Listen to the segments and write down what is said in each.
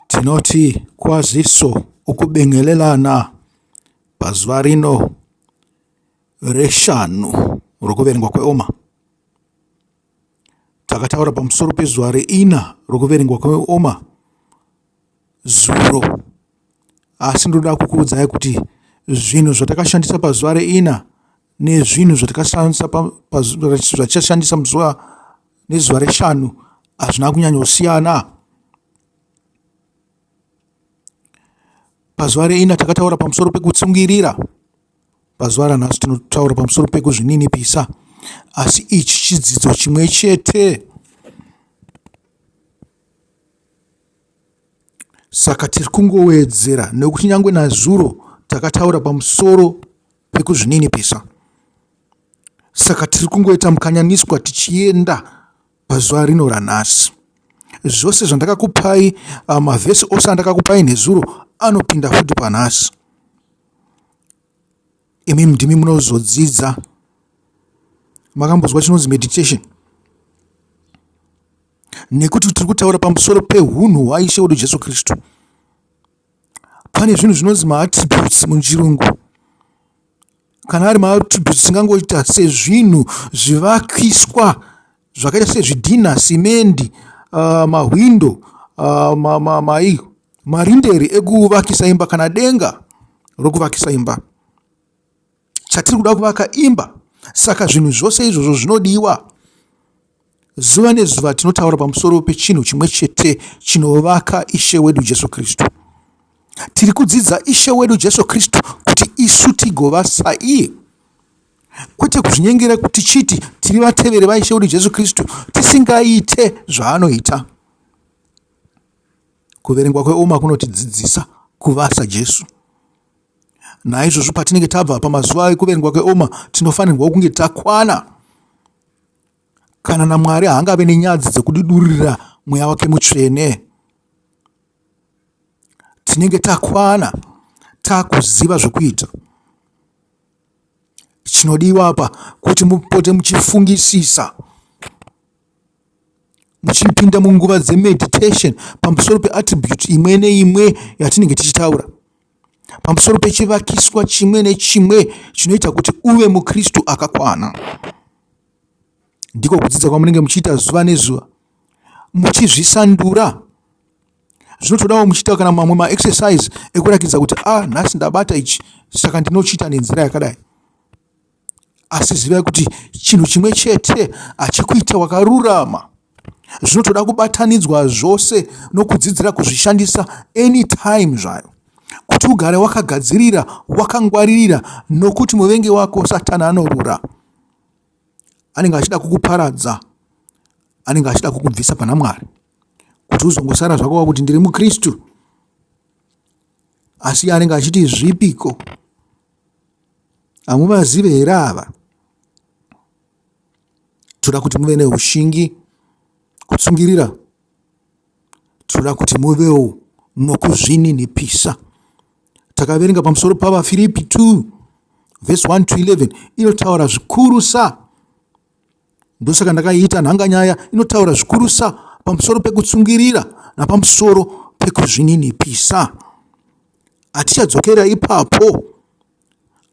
Tinoti kwaziso ukubingelelana pazuva rino reshanu rokuverengwa kweOma. Takataura pamusoro pezuva reina rokuverengwa kweOma zuro, asi ndinoda kukuudzai kuti zvinhu zvatakashandisa pazuva reina nezvinhu zvatikashandisa muzuva nezuva reshanu hazvina kunyanyosiyana pazuva reina takataura pamusoro pekutsungirira pazuva ranhasi tinotaura pamusoro pekuzvininipisa asi ichi chidzidzo chimwe chete saka tiri kungowedzera nekuti nyange nazuro takataura pamusoro pekuzvininipisa. Saka tiri kungoita mukanyaniswa tichienda pazuva rino ranhasi. Zvose zvandakakupai, ah, mavhesi ose andakakupai nezuro anopinda futi panhasi. Imi ndimi munozodzidza. Makambozwa chinonzi meditation? Nekuti tiri kutaura pamusoro pehunhu hwaIshe wedu Jesu Kristu. pane zvinhu zvinonzi maattributes muchirungu kana ari maattributes tingangoita sezvinhu zvivakiswa zvakaita sezvidhina simendi uh, mahwindo uh, ma, ma, ma, marinderi ekuvakisa imba kana denga rokuvakisa imba chatiri kuda kuvaka imba saka zvinhu zvose izvozvo zvinodiwa zuva nezuva tinotaura pamusoro pechinhu chimwe chete chinovaka ishe wedu jesu kristu tiri kudzidza ishe wedu jesu kristu kuti isu tigova saiye kwete kuzvinyengera kuti chiti tiri vateveri vaishe wedu jesu kristu tisingaite zvaanoita kuverengwa kweoma kunotidzidzisa kuvasa jesu Naizvozvo patinenge tabva pamazuva ekuverengwa kweoma, tinofanirwa kunge takwana kana naMwari haangave nenyadzi dzekudidurira mweya wake mutsvene. Tinenge takwana takuziva zvokuita. Chinodiwa apa kuti mupote muchifungisisa muchipinda munguva dzemeditation pamusoro peattribute imwe neimwe yatinenge tichitaura. pamusoro pechivakiswa chimwe nechimwe chinoita kuti uve mukristu akakwana ndiko kudzidza kwamunenge muchiita zuva nezuva muchizvisandura zvinotodawo muchiita kana mamwe maexercise ekurakidza kuti a ah, nhasi ndabata ichi saka ndinochiita nenzira yakadai Asi zivai kuti chinhu chimwe chete hachikuita wakarurama. Zvinotoda kubatanidzwa zvose nokudzidzira kuzvishandisa anytime zvayo kuti ugare wakagadzirira, wakangwaririra nokuti muvengi wako satani anorura. Anenge achida kukuparadza, anenge achida kukubvisa pana Mwari kuti uzongosara zvako wakuti ndiri muKristu asi anenge achiti zvipiko Hamuvazive here ava? Tinoda kuti muve neushingi, kutsungirira. Tinoda kuti muvewo nokuzvininipisa. Takaverenga pamusoro pavaFiripi 2 vhesi 1 to 11 inotaura zvikurusa Ndosaka ndakaita nhanganyaya inotaura zvikurusa pamusoro pekutsungirira napamusoro pekuzvininipisa. Hatichadzokera ipapo,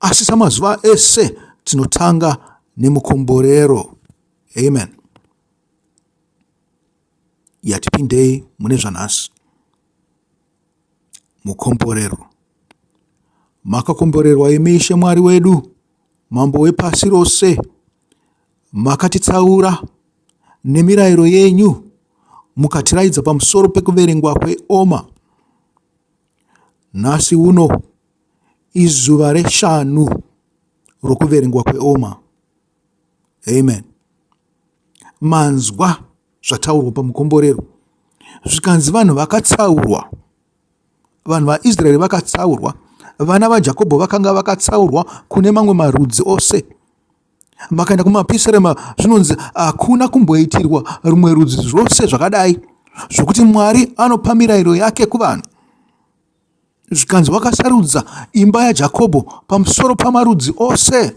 asi samazuva ese tinotanga nemukomborero. Amen. Yatipindei mune zvanhasi. Mukomborero. Makakomborerwa imi Ishe Mwari wedu, Mambo wepasi rose. Makatitsaura nemirayiro yenyu, mukatiraidza pamusoro pekuverengwa kweoma. Nhasi uno izuva reshanu rokuverengwa kweoma. Amen. Manzwa zvataurwa pamukomborero zvikanzi vanhu vakatsaurwa Vanhu vaIsraeri vakatsaurwa. Vana vaJakobho vakanga vakatsaurwa kune mamwe marudzi ose. Makaenda kumapisarema zvinonzi hakuna kumboitirwa rumwe rudzi zvose zvakadai zvokuti Mwari anopa mirayiro yake kuvanhu. Zvikanzi wakasarudza imba yaJakobho pamusoro pamarudzi ose.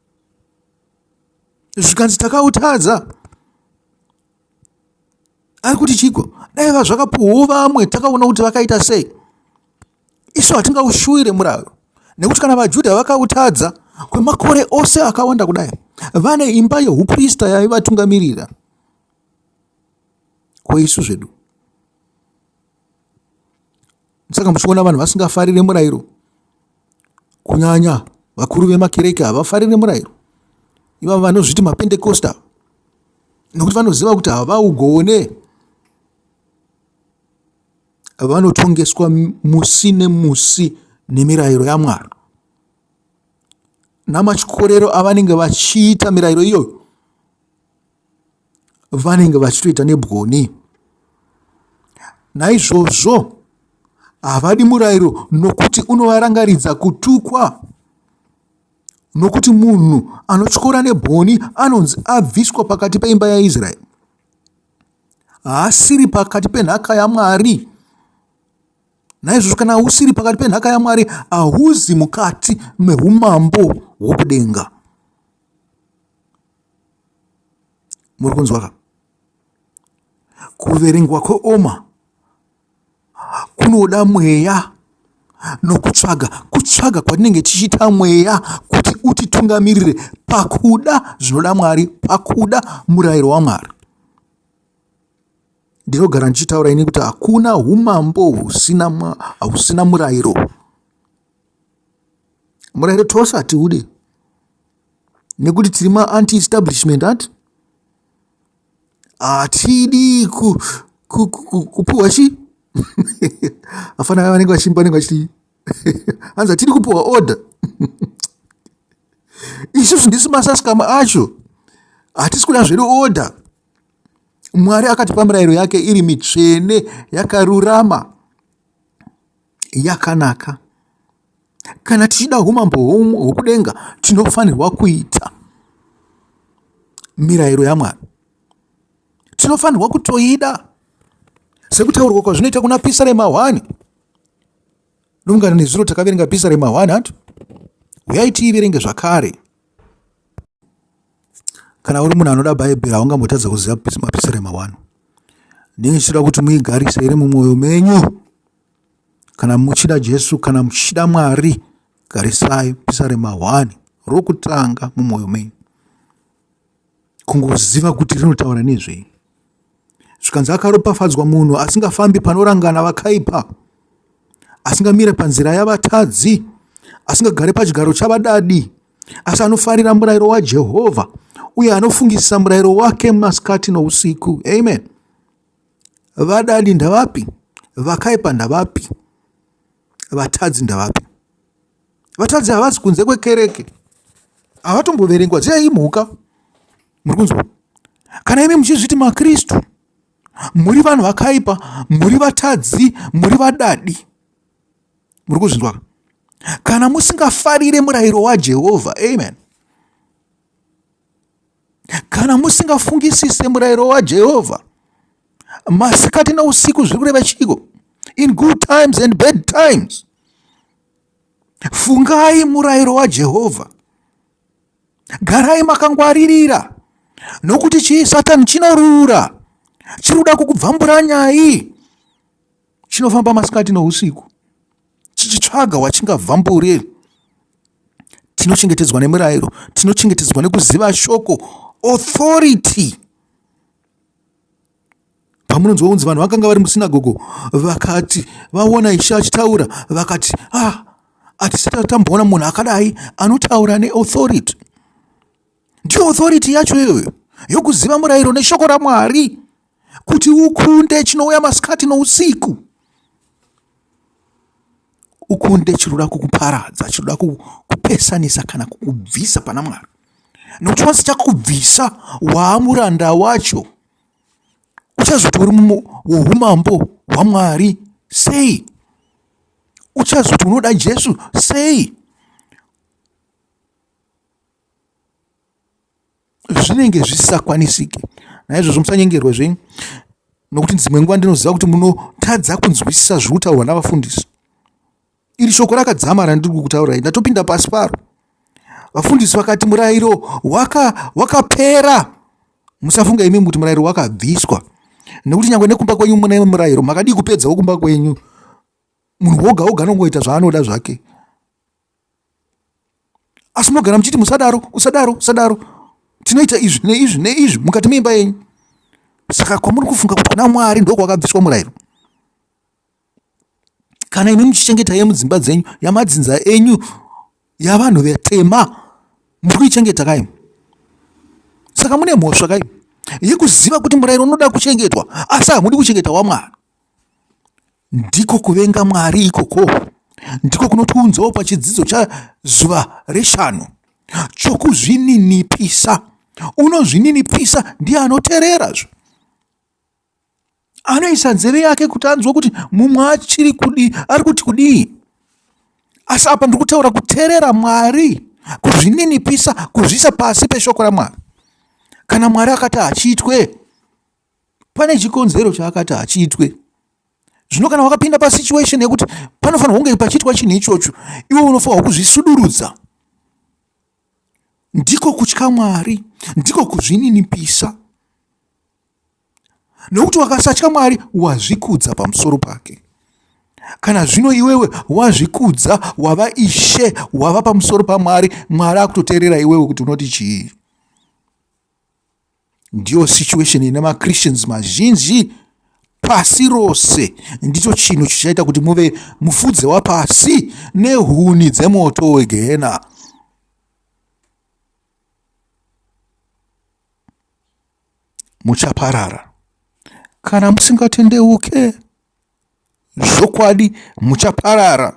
zvikanzi takautadza ari kuti chiko dai vazvakapuhwo vamwe takaona kuti vakaita sei isu hatingaushuwire muraro nekuti kana vajudha vakautadza kwemakore ose akawanda kudai vane imba yeuprista yaivatungamirira kweisu zvedu saka muchiona vanhu vasingafarire murayiro kunyanya vakuru vemakereke havafarire murayiro ivavo vanozviti mapentekosta nokuti vanoziva kuti havaugone vanotongeswa musi nemusi nemirayiro yamwari namachikorero avanenge vachiita mirayiro iyoyo vanenge vachitoita nebwoni naizvozvo havadi murayiro nokuti unovarangaridza kutukwa nokuti munhu anotyora nebwoni anonzi abviswa pakati peimba yaisraeri haasiri pakati penhaka yamwari naizvozvo kana usiri pakati penhaka yamwari hauzi mukati meumambo hwokudenga muri kunzwa ka kuverengwa kweoma kunoda mweya nokutsvaga kutsvaga kwatinenge tichiita mweya kuti utitungamirire pakuda zvinoda mwari pakuda murayiro wamwari ndinogara ndichitaura ini kuti hakuna umambo husina husina murayiro murayiro tose hatiude nekuti tiri maanti establishment ati hatidi kupuhwa chii afana ava vanenge vachimba vanenge vachiti hanzi hatidi kupuhwa order isusu ndisu masaskama acho hatisi kuda zvedu order mwari akatipa mirayiro yake iri mitsvene yakarurama yakanaka. Kana tichida humambo hwokudenga, tinofanirwa kuita mirayiro yaMwari. Tinofanirwa kutoida sekutaurwa kwazvinoita kuna pisa remahwani. Nongana nezuro takaverenga pisa remahwani hanti huyai tiiverenge zvakare. kana uri munhu anoda bhaibheri haungambotadza kuziva mapisirema wani ndinge chichida kuti muigarise iri mumwoyo menyu kana muchida jesu kana muchida mwari garisai pisarema wani rokutanga mumwoyo menyu kungoziva kuti rinotaura nezvei zvikanzi akaropafadzwa munhu asingafambi panorangana vakaipa asingamire panzira yavatadzi asingagare pachigaro chavadadi asi anofarira murayiro wajehovha uye anofungisisa murayiro wake masikati nousiku amen vadadi ndavapi vakaipa ndavapi vatadzi ndavapi vatadzi havasi kunze kwekereke havatomboverengwa dziyai imhuka muri kunzwa kana imi muchizviti makristu muri vanhu vakaipa muri vatadzi muri vadadi muri kuzvinzwa kana musingafarire murayiro wajehovha amen kana musingafungisise murayiro wajehovha masikati nousiku zviri kureva chiiko in good times and bad times fungai murayiro wajehovha garai makangwaririra nokuti chii satani chinorura chiri kuda kukubvambura nyai chinofamba masikati nousiku chichitsvaga wachingabva mbure tinochengetedzwa nemirayiro tinochengetedzwa nekuziva shoko authority pamunonzwa kunzi vanhu vakanga vari musinagogo vakati vaona ishe achitaura vakati ah hatisati tamboona munhu akadai anotaura neauthority ndiyo authority yacho iyoyo yokuziva murayiro neshoko ramwari kuti ukunde chinouya masikati nousiku ukunde chinoda kukuparadza chinoda kukupesanisa kana kukubvisa pana mwari nokuti once chakubvisa waamuranda wacho uchazotori mumwe woumambo hwamwari sei uchazoti unoda jesu sei zvinenge zvisisakwanisike naizvozvo musanyengerwe zvenyu nokuti dzimwe nguva ndinoziva kuti munotadza kunzwisisa zviri kutaurwa navafundisi iri shoko rakadzama randiri kukutaurai ndatopinda pasi paro vafundisi vakati murayiro wakapera waka musafunga imi kuti murayiro wakabviswa nekuti nyange nekumba kwenyu mune murayiro makadii kupedzawo kumba kwenyu munhu woga woga anongoita zvaanoda zvake asi munogara muchiti musadaro usadaro usadaro tinoita izvi neizvi neizvi mukati meimba yenyu saka kwamuri kufunga kuti kuna mwari ndokwakabviswa murayiro kana imi muchichengeta yemudzimba dzenyu yamadzinza enyu yavanhu vetema muri kuichengeta kaimi saka mune mhosva kaimi yekuziva kuti murayiro unoda kuchengetwa asi hamudi kuchengeta wamwari Ndiko kuvenga Mwari ikoko ndiko kunotiunzawo pachidzidzo chazuva reshanu chokuzvininipisa. Unozvininipisa ndiye anotererazve, anoisa nzeve yake kuti anzwe kuti mumwe achiri kudii, ari kuti kudii. Asi apa ndiri kutaura kuterera Mwari, kuzvininipisa, kuzviisa pasi peshoko raMwari. Kana Mwari akati hachiitwe, pane chikonzero chaakati hachiitwe zvino kana wakapinda pasituation yekuti panofanirwa kunge pachiitwa chinhu ichocho iwe unofanirwa kuzvisudurudza ndiko kutya mwari ndiko kuzvininipisa nokuti wakasatya mwari wazvikudza pamusoro pake kana zvino iwewe wazvikudza wava ishe wava pamusoro pamwari mwari akutoteerera iwewe kuti unoti chii ndiyo situation ine machristians mazhinji pasi rose ndicho chinhu chichaita kuti muve mufudze wapasi nehuni dzemoto wegehena muchaparara kana musingatendeuke zvokwadi muchaparara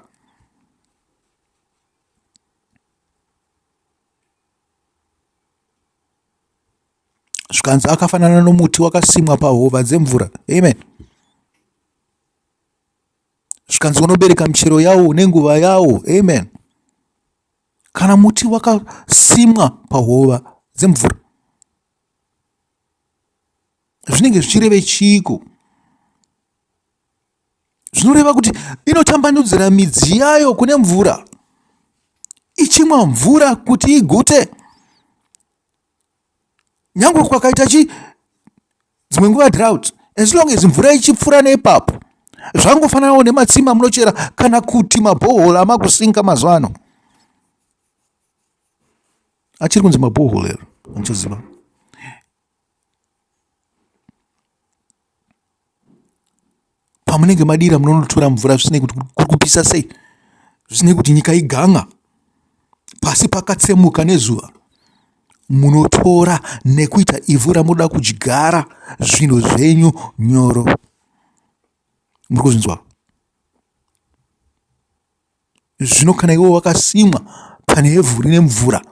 zvikanzi akafanana nomuti wakasimwa pahova dzemvura amen zvikanzi unobereka michero yawo nenguva yawo amen kana muti wakasimwa pahova dzemvura zvinenge zvichireve chiiko zvinoreva kuti inotambanudzira midzi yayo kune mvura ichimwa mvura kuti igute nyange kwakaita chi dzimwe nguva drought as long as mvura ichipfuura neipapo zvangofananawo nematsima munochera kana kuti mabhohol amakusinga mazuva ano achiri kunzi mabhohol ero anochaziva pamunenge madira munonotora mvura zvisinei kuti kuri kupisa sei zvisinei kuti nyika iganga pasi pakatsemuka nezuva munotora nekuita ivhu ramunoda kudyara zvinhu zvenyu nyoro muri kuzvinzwa zvino kana iwe wakasimwa pane evhu rine mvura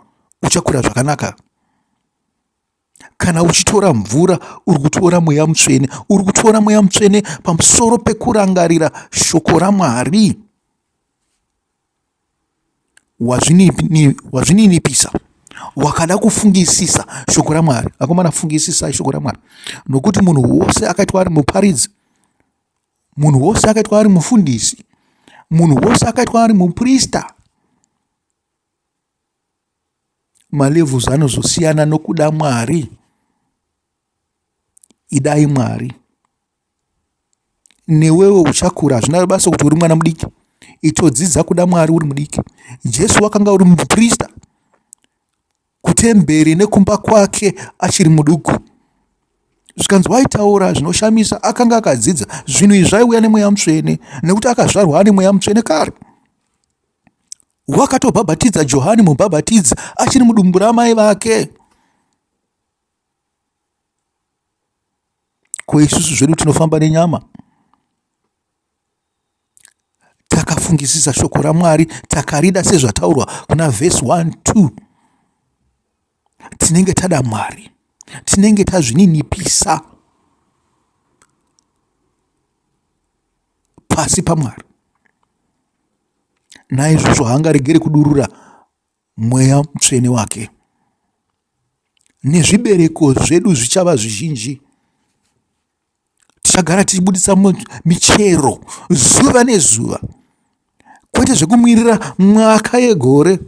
uchakura zvakanaka kana uchitora mvura uri kutora mweya mutsvene uri kutora mweya mutsvene pamusoro pekurangarira shoko ramwari wazvininipisa wakada kufungisisa shoko ramwari akomana fungisisai shoko ramwari nokuti munhu wose akaitwa ari muparidzi munhu wose akaitwa ari mufundisi munhu wose akaitwa ari muprista malevels anozosiyana nokuda mwari idai mwari newewo uchakura hazvina basa kuti uri mwana mudiki itodzidza kuda mwari uri mudiki jesu wakanga uri muprista kutemberi nekumba kwake achiri muduku zvikanzi waitaura zvinoshamisa akanga akadzidza zvinhu izvi zvaiuya nemweya mutsvene nekuti akazvarwa ane mweya mutsvene kare wakatobhabhatidza johani mubhabhatidzi achiri mudumbu ramai vake ko isusu zvedu tinofamba nenyama takafungisisa shoko ramwari takarida sezvataurwa kuna vhesi 1 2 tinenge tada Mwari, tinenge tazvininipisa pasi paMwari. Naizvozvo haangaregeri kudurura mweya mutsvene wake, nezvibereko zvedu zvichava zvizhinji tichagara tichibudisa michero zuva nezuva kwete zvekumirira mwaka yegore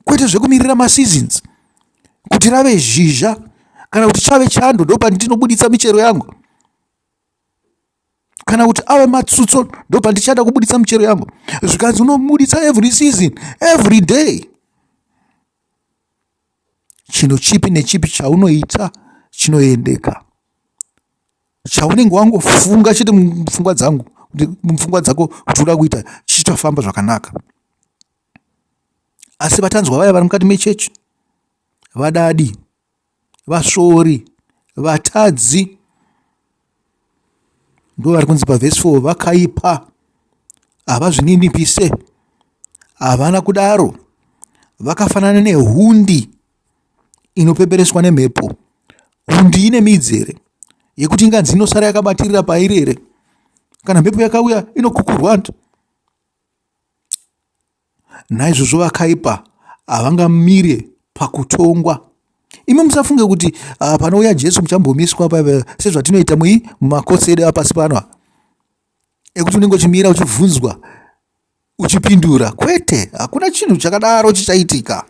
kwete zvekumirira maseasons kuti rave zhizha kana kuti chave chando ndopandinobuditsa michero yangu kana kuti ave matsutso ndopandichada kubuditsa michero yangu zvikanzi unobuditsa every season every day chinhu chipi nechipi chaunoita chinoendeka chaunenge wangofunga chete mupfungwa dzangu mupfungwa dzako kuti uda kuita chichitofamba zvakanaka asi vatanzwa vaya vari mukati mechechi vadadi vasvori vatadzi ndo vari kunzi pavhesi 4 vakaipa havazvininipise havana kudaro vakafanana nehundi inopepereswa nemhepo hundi ine midzi here yekuti inganzi inosara yakabatirira pairi here kana mhepo yakauya inokukurwa Naizvozvo vakaipa havangamire pakutongwa. Imi musafunge kuti uh, panouya Jesu muchambomiswa sezvatinoita mui mumakosi edu apasi pano ekuti unenge uchimira uchibvunzwa uchipindura. Kwete, hakuna chinhu chakadaro chichaitika.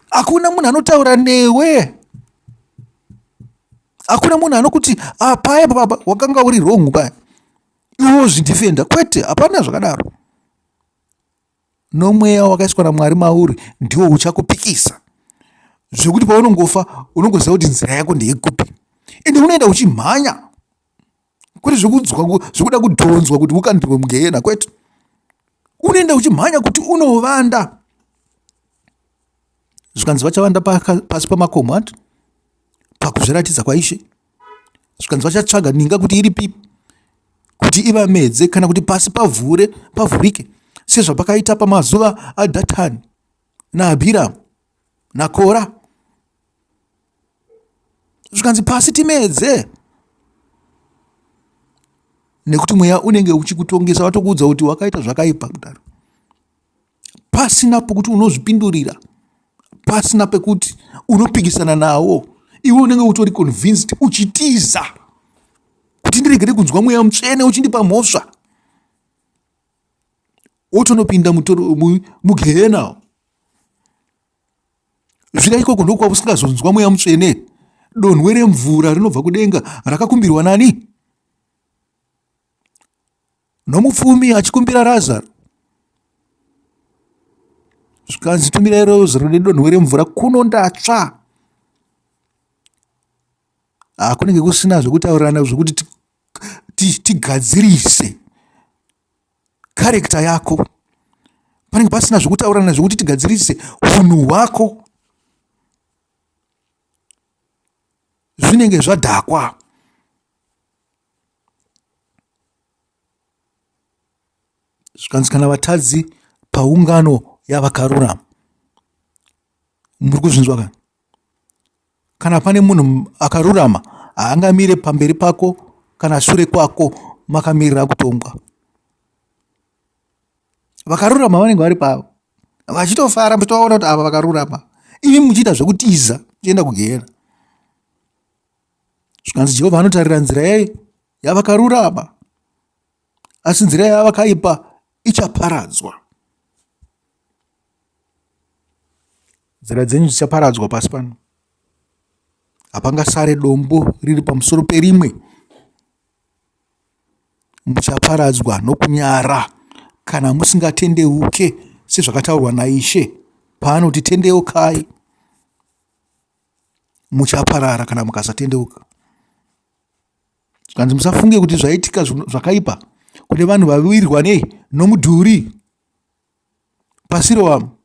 Hakuna munhu anotaura newe hakuna munhu anokuti ah, paya baba wakanga uri wrong paya iwe wozvidhifenda kwete hapana zvakadaro nomweya wakaiswa namwari mauri ndiwo uchakupikisa zvekuti paunongofa unongoziva kuti nzira yako ndeyekupi ende unoenda uchimhanya kwete zvekuda kudhonzwa kuti ukandirwe mugehena kwete unoenda uchimhanya kuti unovanda zvikanzi vachavanda pasi pamakomo ati pakuzviratidza kwaishe zvikanzi vachatsvaga ninga kuti iri pipi kuti ivamedze kana kuti pasi pavhure pavhurike sezvapakaita pamazuva adhatani naabhiramu nakora zvikanzi pasi timedze nekuti mweya unenge uchikutongesa watokuudza kuti wakaita zvakaipa kudaro pasina pokuti unozvipindurira pasina pekuti unopikisana nawo iwe unenge utori convinced uchitiza kuti ndiregere kunzwa mweya mutsvene uchindipa mhosva wotonopinda mugehena zvira ikoko ndokuva usingazonzwa mweya mutsvene donhwe remvura rinobva kudenga rakakumbirwa nani nomupfumi achikumbira razaro zvikanzi tumirai rozaro nedonho remvura kuno ndatsva ah, kunenge kusina zvekutaurirana zvekuti tigadzirise karekta yako panenge pasina zvekutaurirana zvekuti tigadzirise unhu hwako zvinenge zvadhakwa zvikanzi kana vatadzi paungano yavakarurama muri kuzvinzwa ka kana pane munhu akarurama haangamire pamberi pako kana shure kwako makamirira kutongwa vakarurama vanenge vari pavo vachitofara muchitovaona kuti ava vakarurama imi muchiita zvekutiza muchienda kugehena zvikanzi jehovha anotarira nzira yei yavakarurama asi nzira yavakaipa ichaparadzwa nzira dzenyu dzichaparadzwa pasi pano hapangasare dombo riri pamusoro perimwe muchaparadzwa nokunyara kana musingatendeuke sezvakataurwa naishe paanoti tendeukai muchaparara kana mukasatendeuka zvikanzi musafunge kuti zvaitika zvakaipa kune vanhu vawirwa nei nomudhuri pasi rowamo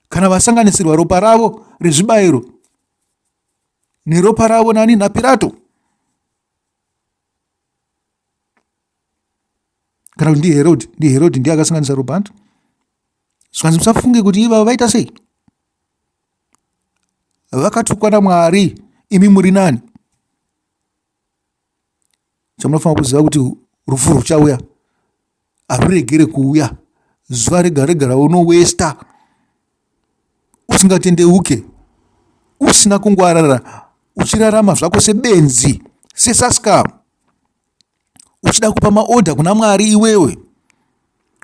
kana vasanganisirwa ropa ravo rezvibayiro neropa ravo nani napirato kana kuti ndiherod ndiherod ndiye akasanganisa robhand zvikanzi musafunge kuti ivavo vaita sei vakatukwa namwari imi muri nani chamunofanira kuziva kuti rufu ruchauya haruregere kuuya zuva rega rega raunowesta usingatendeuke usina kungwarara uchirarama zvako sebenzi sesaskam uchida kupa maodha kuna mwari iwewe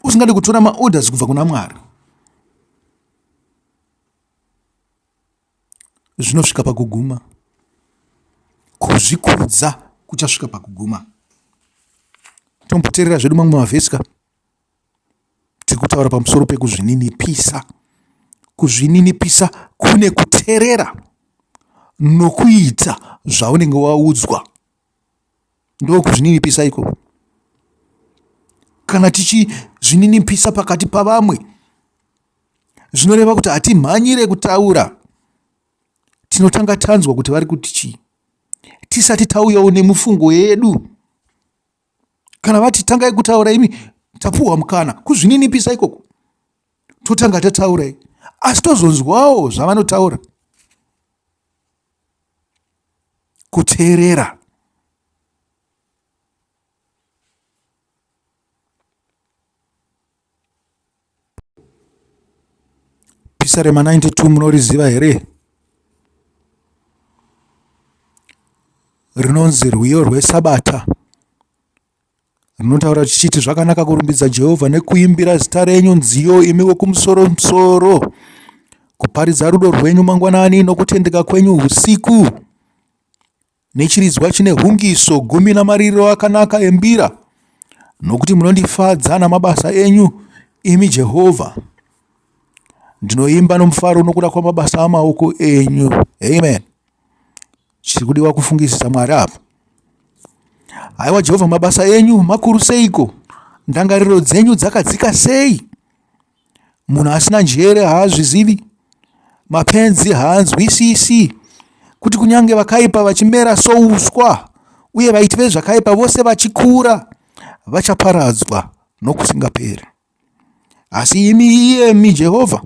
usingade kutora maorders kubva kuna mwari zvinosvika pakuguma. Kuzvikudza kuchasvika pakuguma. Tomboteerera zvedu mamwe mavhesi ka. Tiri kutaura pamusoro pekuzvininipisa. Kuzvininipisa kune kuteerera nokuita zvaunenge waudzwa. ndokuzvininipisa ikoko kana tichizvininipisa pakati pavamwe zvinoreva kuti hatimhanyire kutaura tinotanga tanzwa kuti vari kuti chii tisati tauyawo nemufungo yedu kana vati tangai kutaura imi tapuhwa mukana kuzvininipisa ikoko totanga tataurai asi tozonzwawo zvavanotaura kuteerera pisa rema 92 munoriziva here rinonzi rwiyo rwesabata Rinotaura richiti, Zvakanaka kurumbidza Jehovha nekuimbira zita renyu nziyo, imi wokumusoromsoro, kuparidza rudo rwenyu mangwanani nokutendeka kwenyu usiku, nechiridzwa chine hungiso gumi namariro akanaka embira, nokuti munondifadza namabasa enyu, imi Jehovha. Ndinoimba nomufaro nokuda kwamabasa amaoko enyu. Amen. Chiri kudiwa kufungisisa Mwari apa. Haiwa Jehovha, mabasa enyu makuru seiko? Ndangariro dzenyu dzakadzika sei? Munhu asina njere haazvizivi, mapenzi haanzwisisi kuti kunyange vakaipa vachimera souswa uye vaiti vezvakaipa vose vachikura vachaparadzwa nokusingaperi. Asi imi, iyemi Jehovha,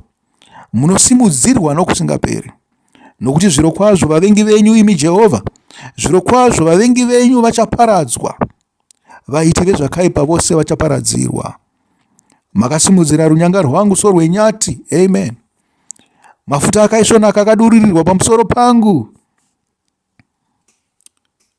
munosimudzirwa nokusingaperi. Nokuti zvirokwazvo vavengi venyu, imi Jehovha, zvirokwazvo vavengi venyu vachaparadzwa, vaiti vezvakaipa vose vachaparadzirwa. Makasimudzira runyanga rwangu sorwenyati. Amen. Mafuta akaisvonaka akadururirwa pamusoro pangu.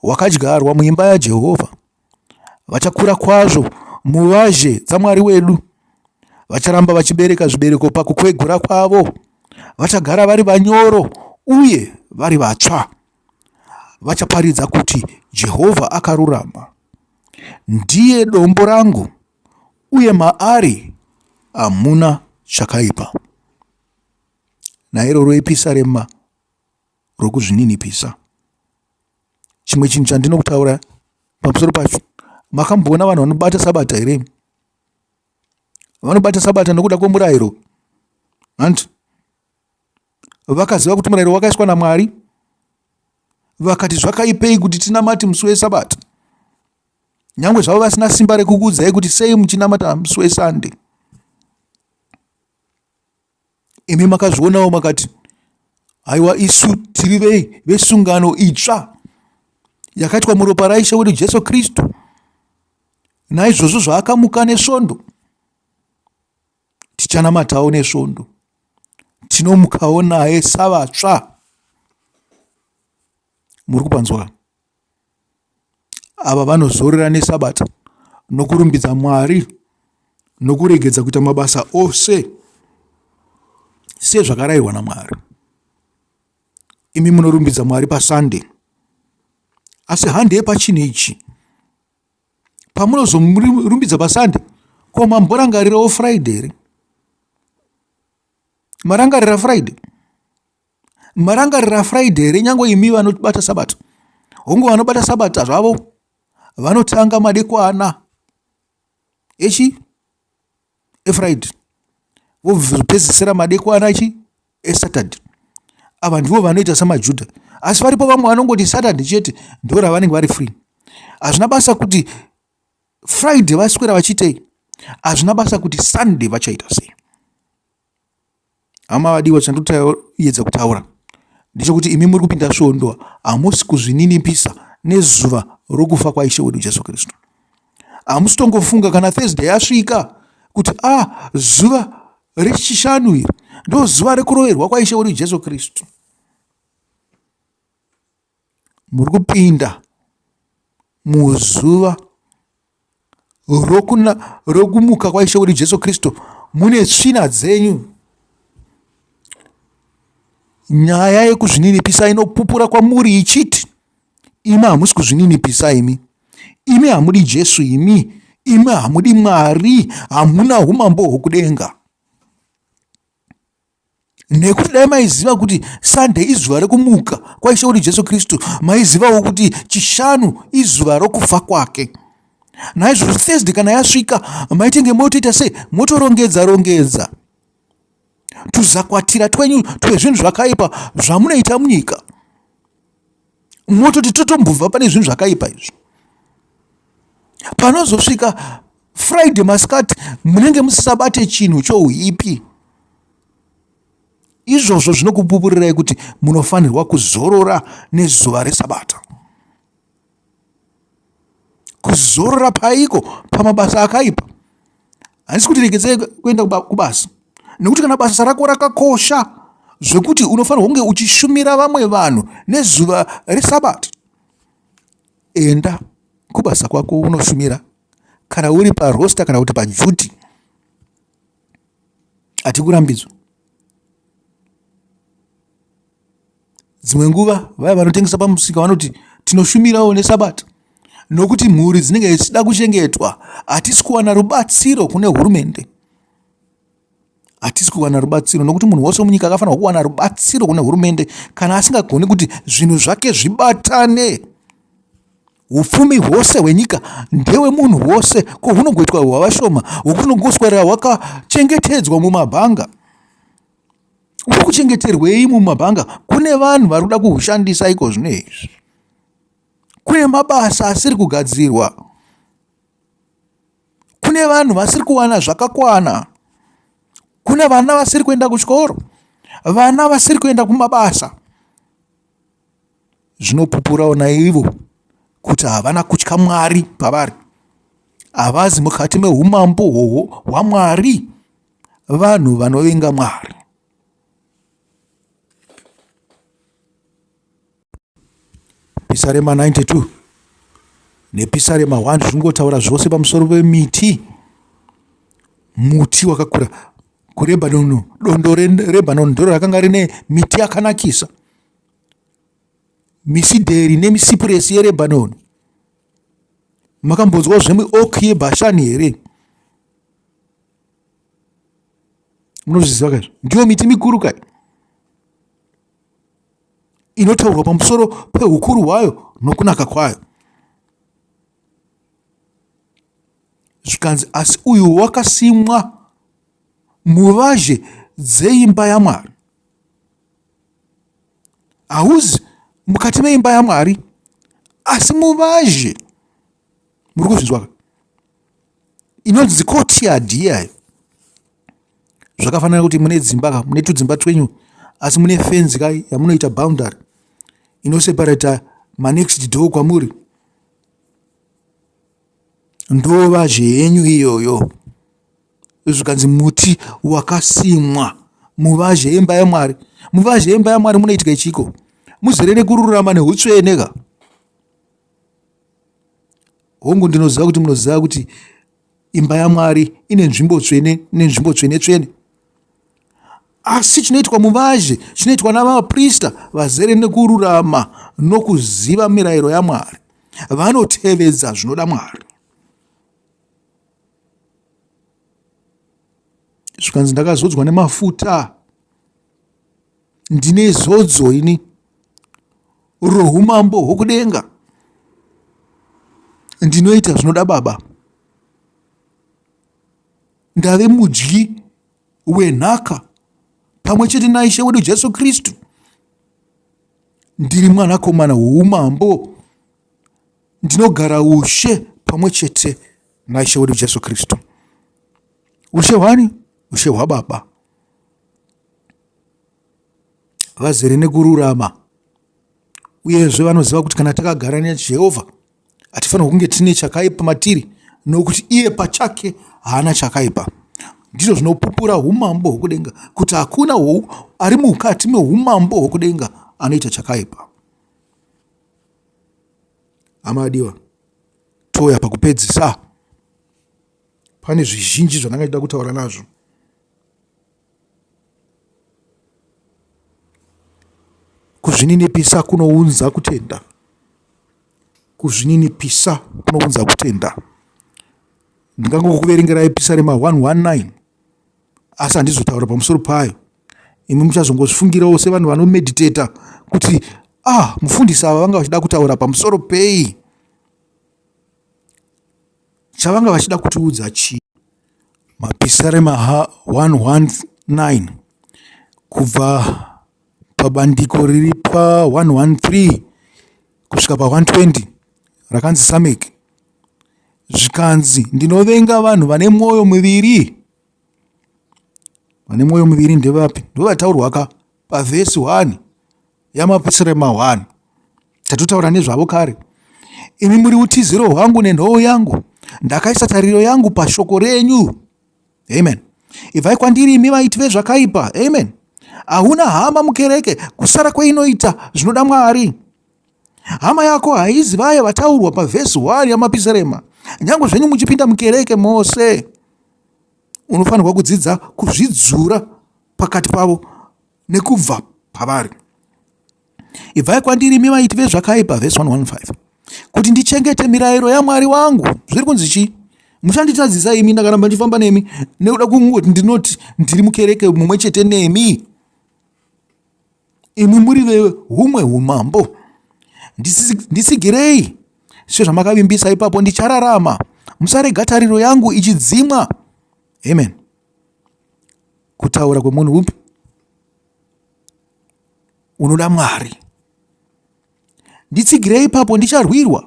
hwakadyarwa muimba yaJehovha vachakura kwazvo muvazhe dzaMwari wedu. Vacharamba vachibereka zvibereko pakukwegura kwavo. Vachagara vari vanyoro uye vari vatsva. Vachaparidza kuti Jehovha akarurama. Ndiye dombo rangu, uye maari hamuna chakaipa. Nairoro episarema rwokuzvininipisa. Chimwe chinhu chandino kutaura pamusoro pacho, makamboona vanhu vanobata sabata here? Vanobata sabata nokuda kwomurayiro, hanti vakaziva kuti murayiro wakaiswa naMwari, vakati zvakaipei kuti tinamati musi wesabata, nyange zvavo vasina simba rekukuudzai kuti sei muchinamata musi wesande. imi makazvionawo makati haiwa isu tiri vei vesungano itsva yakaitwa muropa raishe wedu jesu kristu naizvozvo zvaakamuka nesvondo tichanamatawo nesvondo tinomukawo naye savatsva muri kupanzwa Ava vanozorora neSabata nokurumbidza Mwari nokuregedza kuita mabasa ose sezvakarayirwa naMwari. Imi munorumbidza Mwari paSande asi handei pachinhu ichi. Pamunozomurumbidza paSande ko mamborangarirawo Friday here? Marangarira Friday? marangarira friday here nyange imi vanobata sabato hongu vanobata sabata zvavo vanotanga madekwana echi efriday vopedzisira madekwana echi esaturday ava ndivo vanoita samajuda asi varipo vamwe vanongoti saturday chete ndo ravanenge vari free hazvina basa kuti friday vaswera vachiitei hazvina basa kuti sunday vachaita sei Hama vadiwa chandoyedza kutaura ndechekuti imi muri kupinda svondo hamusi kuzvininipisa nezuva rokufa kwaishe wedu jesu kristu hamusi tongofunga kana thursday yasvika kuti a ah, zuva rechishanu iri ndozuva rekuroverwa kwaishe wedu jesu kristu Muri kupinda muzuva rokumuka kwaIshe wedu Jesu Kristu mune tsvina dzenyu. Nyaya yekuzvininipisa inopupura kwamuri ichiti, imi hamusi kuzvininipisa imi, imi hamudi Jesu imi, imi hamudi Mwari, hamuna umambo hwokudenga. nekuti dai maiziva kuti sunday izuva rekumuka kwaishe kuti jesu kristu maizivawo kuti chishanu izuva rokufa kwake naizvozvo thursday kana yasvika maitenge motoita sei motorongedza rongedza tuzakwatira twenyu twezvinhu zvakaipa zvamunoita munyika mototi totombobva pane zvinhu zvakaipa izvi panozosvika friday masikati munenge musisabate chinhu chouipi izvozvo zvinokupupurirai kuti munofanirwa kuzorora nezuva resabata kuzorora paiko pamabasa akaipa handisi kuti regedzei kuenda kubasa nekuti kana basa rako rakakosha zvekuti unofanirwa kunge uchishumira vamwe vanhu nezuva resabata enda kubasa kwako unoshumira kana uri parosta kana kuti pajuti hatikurambidzwa Dzimwe nguva vaya vanotengesa pamusika vanoti tinoshumirawo neSabata nokuti mhuri dzinenge dzichida kuchengetwa. Hatisi kuwana rubatsiro kune hurumende. Hatisi kuwana rubatsiro nokuti munhu wose munyika akafanirwa kuwana rubatsiro kune hurumende kana asingagoni kuti zvinhu zvake zvibatane. Upfumi hwose hwenyika ndewe munhu wose ko hunogoitwa hwavashoma hwokuti unongoswerera hwakachengetedzwa mumabhanga. Uri kuchengeterwei mumabhanga? Kune vanhu vari kuda kuhushandisa iko zvino izvi. Kune mabasa asiri kugadzirwa. Kune vanhu vasiri kuwana zvakakwana. Kune vana vasiri kuenda kuchikoro. Vana vasiri kuenda kumabasa. Zvinopupurawo naivo kuti havana kutya Mwari pavari. Havazi mukati meumambo hwohwo hwaMwari. Vanhu vanovenga Mwari. Pisarema 92 nepisarema 1 zviri kungotaura zvose pamusoro pemiti muti wakakura kurebhanoni dondo rerebhanoni ndiro rakanga rine miti yakanakisa misidheri nemisipuresi yerebhanoni makambonzwa zvemuok yebhashani here munozviziva kaizvo ndiyo miti mikuru kai inotaurwa pamusoro peukuru hwayo nokunaka kwayo zvikanzi asi uyu wakasimwa muvazhe dzeimba yamwari hauzi mukati meimba yamwari asi muvazhe muri kuzvinzwaka inonzi courtyard iyayo zvakafanana kuti mune dzimba ka mune tudzimba twenyu asi mune fenzi ka yamunoita boundary inoseparata manext door kwamuri ndova zvenyu iyoyo zvikanzi muti wakasimwa muvazhe yemba yamwari muvazhe yemba yamwari munoitika ichiko muzere nekururama neutsvene ka Hongu, ndinoziva kuti munoziva kuti imba yaMwari ine nzvimbo tsvene nenzvimbo tsvene tsvene, asi chinoitwa muvazhe chinoitwa navaprista vazere nekururama nokuziva mirayiro yaMwari, vanotevedza zvinoda Mwari. zvikanzi ndakazodzwa nemafuta ndine zodzo ini roumambo hwokudenga ndinoita zvinoda baba ndave mudyi wenhaka pamwe chete naishe wedu jesu kristu ndiri mwanakomana woumambo ndinogara ushe pamwe chete naishe wedu jesu kristu ushe hwani ushe hwababa vazere nekururama uyezve vanoziva kuti kana takagara nejehovha hatifanirwa kunge tine chakaipa matiri nokuti iye pachake haana chakaipa ndizvo zvinopupura umambo hwokudenga kuti hakuna ari mukati meumambo hwokudenga anoita chakaipa amadiwa touya pakupedzisa pane zvizhinji zvandanga ndida kutaura nazvo Kuzvininipisa kunounza kutenda. Kuzvininipisa kunounza kutenda. Ndingangokuverengerai pisarema 119 asi handizotaura pamusoro payo. Imi muchazongozvifungirawo sevanhu vanomediteta kuti ah, mufundisi ava vanga vachida kutaura pamusoro pei, chavanga vachida kutiudza chii. Mapisarema 119 kubva pabandiko riri pa113 kusvika pa120 rakanzi samek zvikanzi ndinovenga vanhu vane mwoyo miviri vane mwoyo miviri ndevapi ndovataurwa ka pavhesi 1 yamapisirema 1 tatotaura nezvavo kare imi muri utiziro hwangu nenhoo yangu ndakaisa tariro yangu pashoko renyu amen ibvai kwandiri imi vaiti vezvakaipa amen hauna hama mukereke kusara kweinoita zvinoda mwari hama yako haizi vaya vataurwa pavhesi 1 yamapisirema nyange zvenyu muchipinda mukereke mose unofanirwa kudzidza kuzvidzura pakati pavo nekubva pavari ibvai kwandiri imi vaiti vezvakaipa vhesi 115 kuti ndichengete mirayiro yamwari wangu zviri kunzi chii muchanditadzisa imi ndakaramba ndichifamba nemi nekuda kungoti ndinoti ndiri mukereke mumwe chete nemi imi muri veumwe umambo ndisigirei sezvamakavimbisa ipapo ndichararama musarega tariro yangu ichidzimwa amen kutaura kwemunhu upi unoda mwari nditsigirei ipapo ndicharwirwa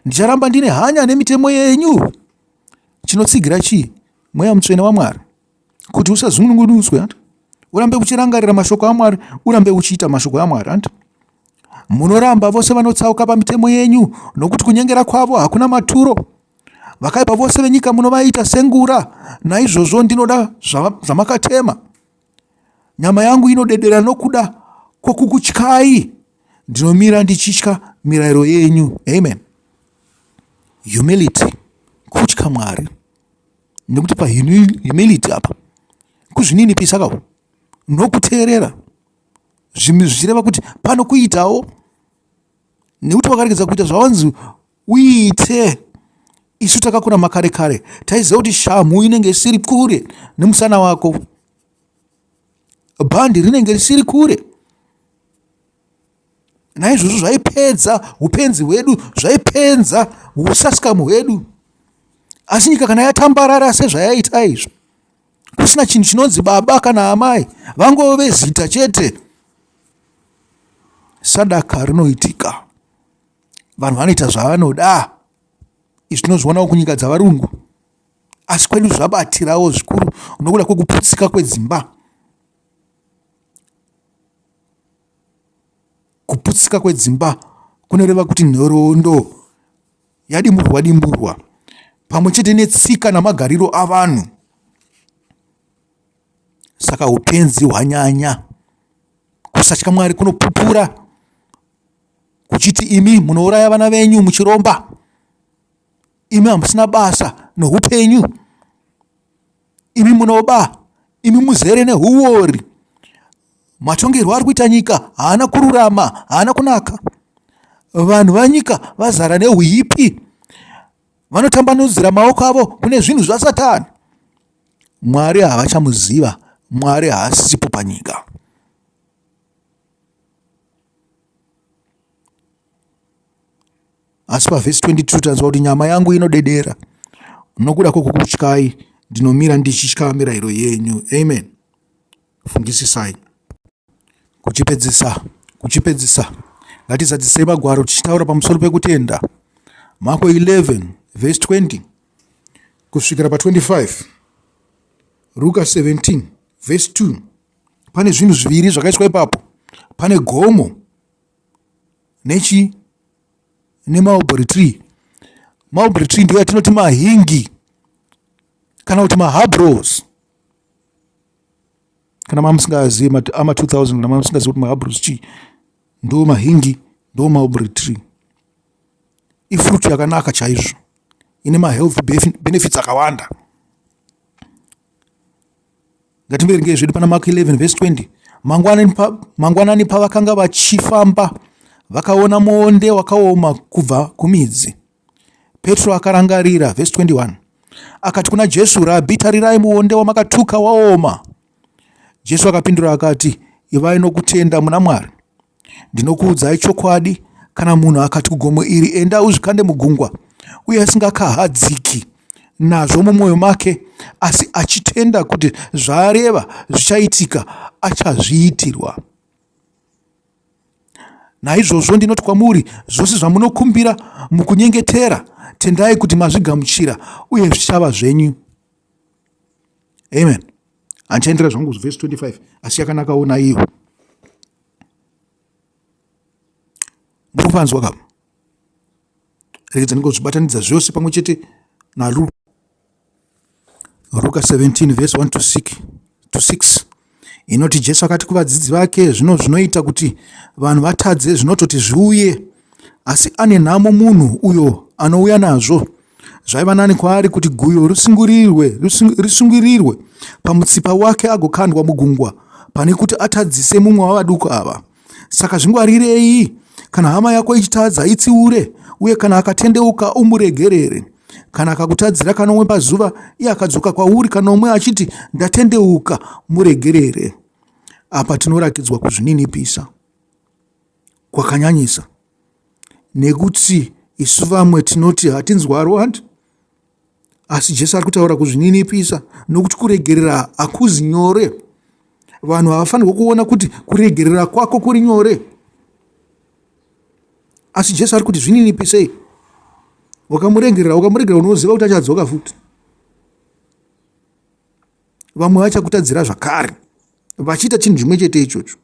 ndicharamba ndine hanya nemitemo yenyu chinotsigira chii mweya mutsvene wamwari kuti usazungunugudutswe ant urambe uchirangarira mashoko amwari urambe uchiita mashoko amwari ant munoramba vose vanotsauka pamitemo yenyu nokuti kunyengera kwavo hakuna maturo Vakaipa vose venyika munovaita sengura, naizvozvo ndinoda zvamakatema. Nyama yangu inodedera nokuda kwokukutyai, ndinomira ndichitya mirayiro yenyu. Amen. Humility, kutya Mwari, nekuti pahumility apa kuzvininipisa kawo nokuteerera zvichireva kuti pano kuitawo nekuti wakaregedza kuita zvawanzi Uite. Isu takakura makare kare taiziva kuti shamhu inenge isiri kure nemusana wako. Bhandi rinenge risiri kure. Naizvozvo zvaipedza upenzi hwedu, zvaipedza usasikamu hwedu. Asi nyika kana yatambarara sezvayaita izvo, kusina chinhu chinonzi baba kana amai, vangove zita chete. Sadaka rinoitika. vanhu vanoita zvavanoda izvi tinozvionawo kunyika dzavarungu asi kwedu zvabatirawo zvikuru nokuda kwekuputsika kwedzimba kuputsika kwedzimba kunoreva kuti nhoroondo yadimurwa dimurwa pamwe chete netsika namagariro avanhu Saka upenzi hwanyanya. Kusatya Mwari kunopupura kuchiti imi munouraya vana venyu muchiromba, imi hamusina basa noupenyu, imi munoba, imi muzere nehuwori. Matongerwo ari kuita nyika haana kururama, haana kunaka. Vanhu vanyika vazara neuipi, vanotambanudzira maoko avo kune zvinhu zvasatani. Mwari havachamuziva, Mwari haasipo panyika. Asi pavhesi 22 tanzwa kuti nyama yangu inodedera nokuda kwokukutyai, ndinomira ndichitya mirayiro yenyu. Amen. Fungisisai. Kuchipedzisa, kuchipedzisa, ngatizadzisei magwaro tichitaura pamusoro pekutenda. Mako 11 vhesi 20 kusvikira pa25 ruka 17 vhesi 2 pane zvinhu zviviri zvakaiswa ipapo pane gomo nechi nemaubury tree mulberry tree ndiyo yatinoti mahingi kana kuti mahabros kana mamusingazivi ama 2000 kana mamusingazivi kuti mahabros chii ndo mahingi ndo mulberry tree ifruit yakanaka chaizvo ine mahealth benefits akawanda ngatimberengei zvedu pana mark 11 vese 20 mangwanani pavakanga vachifamba vakaona muonde wakaoma kubva kumidzi petro akarangarira vhesi 21 akati kuna jesu rabhi tarirai muonde wamakatuka waoma jesu akapindura akati ivai nokutenda muna mwari Ndinokuudzai chokwadi, kana munhu akati kugomo iri, Enda uzvikande mugungwa, uye asingakahadziki nazvo mumwoyo make, asi achitenda kuti zvaareva zvichaitika, achazviitirwa. Naizvozvo ndinoti kwamuri, zvose zvamunokumbira mukunyengetera, tendai kuti mazvigamuchira, uye zvichava zvenyu. Amen. Handichaendera zvangu verse 25 asi yakanakawo naiyo. muri kuvanzwa ka rekedza ndinge zvibatanidza zvose pamwe chete naluka ruka 17 vhesi 1 to 6 to 6 inoti jesu akati kuvadzidzi vake zvino zvinoita kuti vanhu vatadze zvinototi zviuye Asi ane nhamo munhu uyo anouya nazvo. Zvaiva nani kwaari kuti guyo risungirirwe, risungirirwe pamutsipa wake agokandwa mugungwa pane kuti atadzise mumwe wavaduku ava. Saka zvingwarirei kana hama yako ichitadza itsiure uye kana akatendeuka umuregerere kana akakutadzira kanomwe pazuva iye akadzoka kwauri kanomwe achiti ndatendeuka muregerere apa tinorakidzwa kuzvininipisa kwakanyanyisa nekuti isu vamwe tinoti hatinzwarwi handi asi jesu ari kutaura kuzvininipisa nokuti kuregerera hakuzi nyore vanhu havafanirwa kuona kuti kuregerera kwako kuri nyore asi jesu ari kuti zvininipisei wakamuregerera ukamuregerera unoziva kuti achadzoka futi vamwe vachakutadzira zvakare vachiita chinhu chimwe chete ichocho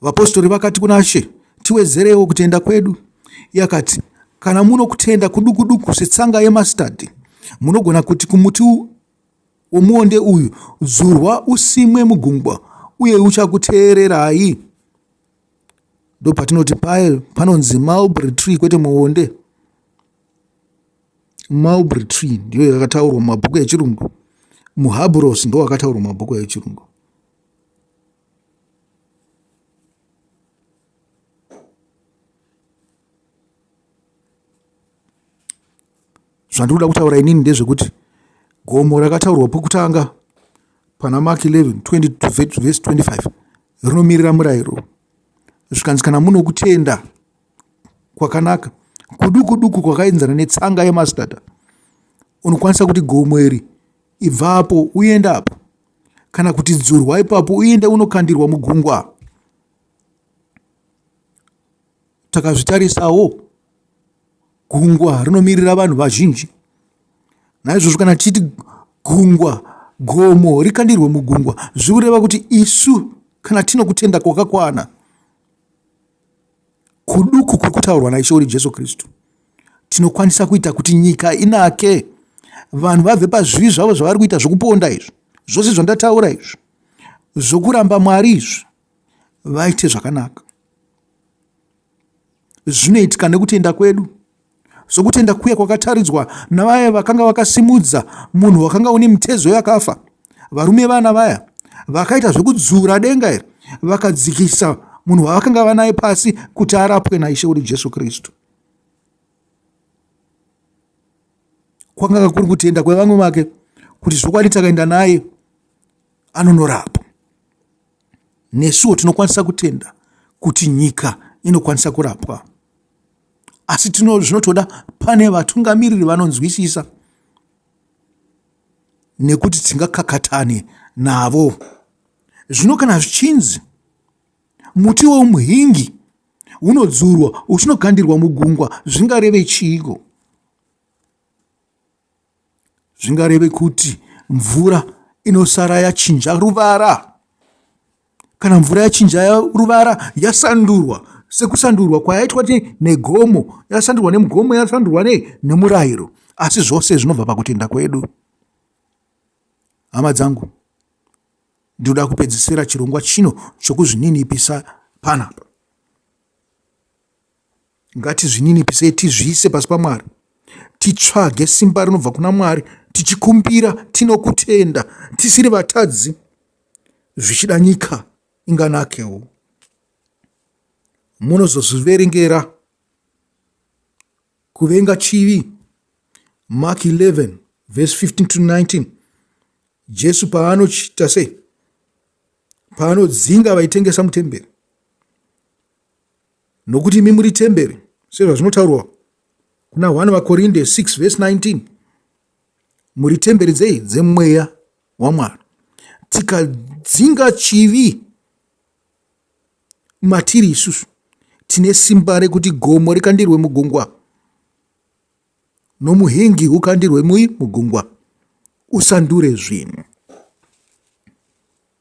Vapostori vakati kuna She, Tiwedzerewo kutenda kwedu. Iye akati, Kana muno kutenda kudukuduku setsanga yemastadhi, munogona kuti kumuti womuonde uyu, Dzurwa usimwe mugungwa, uye uchakuteererai. Ndopatinoti paye panonzi mulberry tree kwete muonde. Mulberry tree ndiyo yakataurwa mumabhuku echirungu. Muhabhurosi ndiwo wakataurwa mumabhuku echirungu. Zvandinoda kutaura inini ndezvekuti gomo rakataurwa pokutanga pana Mark 11 20 vhesi 25 rinomirira murayiro zvikanzi kana muno kutenda kwakanaka kuduku duku kwakaenzana netsanga yemastata unokwanisa kuti gomo iri ibva apo uenda apo kana kuti dzurwa ipapo uenda unokandirwa mugungwa takazvitarisawo gungwa rinomirira vanhu vazhinji naizvozvo kana tichiti gungwa gomo rikandirwe mugungwa zvikureva kuti isu kana tino kutenda kwakakwana kuduku kuri kutaurwa naIshe uri Jesu Kristu, tinokwanisa kuita kuti nyika inake, vanhu vabve pazvivi zvavo zvavari kuita zvokuponda izvi, zvose zvandataura izvi, zvokuramba Mwari izvi, vaite zvakanaka. Zvinoitika nekutenda kwedu. sokutenda kuya kwakataridzwa navaya vakanga vakasimudza munhu wakanga une mitezo yakafa varume vana vaya vakaita zvekudzura denga iri vakadzikisa munhu wavakanga vanaye pasi kuti arapwe naishe wedu jesu kristu kwakanga kuri kutenda kwevamwe vake kuti zvokwadi takaenda naye anonorapwa nesuwo tinokwanisa kutenda kuti nyika inokwanisa kurapwa asi tino zvinotoda pane vatungamiriri vanonzwisisa nekuti tingakakatane navo zvino kana zvichinzi muti weumuhingi unodzurwa uchinokandirwa mugungwa zvingareve chiiko zvingareve kuti mvura inosara yachinja ruvara kana mvura yachinja ruvara yasandurwa sekusandurwa kwayaitwa negomo yasandurwa nemugomo yasandurwa nei nemurayiro asi zvose zvinobva pakutenda kwedu hama dzangu ndinoda kupedzisira chirongwa chino chokuzvininipisa panapa Ngatizvininipisei tizviise pasi paMwari, titsvage simba rinobva kuna Mwari, tichikumbira tinokutenda, tisiri vatadzi, zvichida nyika inganakewo. Munozozviverengera kuvenga chivi. Mark 11 verse 15 to 19 Jesu paanochita sei? Paanodzinga vaitengesa mutemberi Nokuti imi muri temberi, sezvazvinotaurwa kuna 1 vaKorinde 6 vhesi 19, muri temberi dzei? Dzemweya waMwari. Tikadzinga chivi matiri isusu, tine simba rekuti gomo rikandirwe mugungwa nomuhingi ukandirwe mui mugungwa usandure zvinhu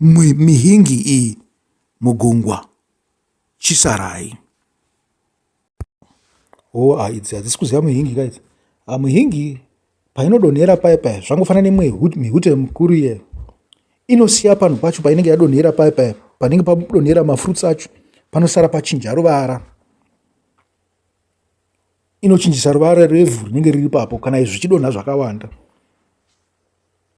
nemihingi iyi mugungwa chisarai. Hova idzi hadzisi kuziva muhingi ka idzi. Ah, muhingi painodonhera paye paye zvangofanana nemwe mihute mikuru iye inosiya panhu pacho painenge yadonhera paye paye panenge padonhera mafruits acho panosara pachinja ruvara. inochinjisa ruvara rwevhu rinenge riri ipapo kana zvichidonha zvakawanda.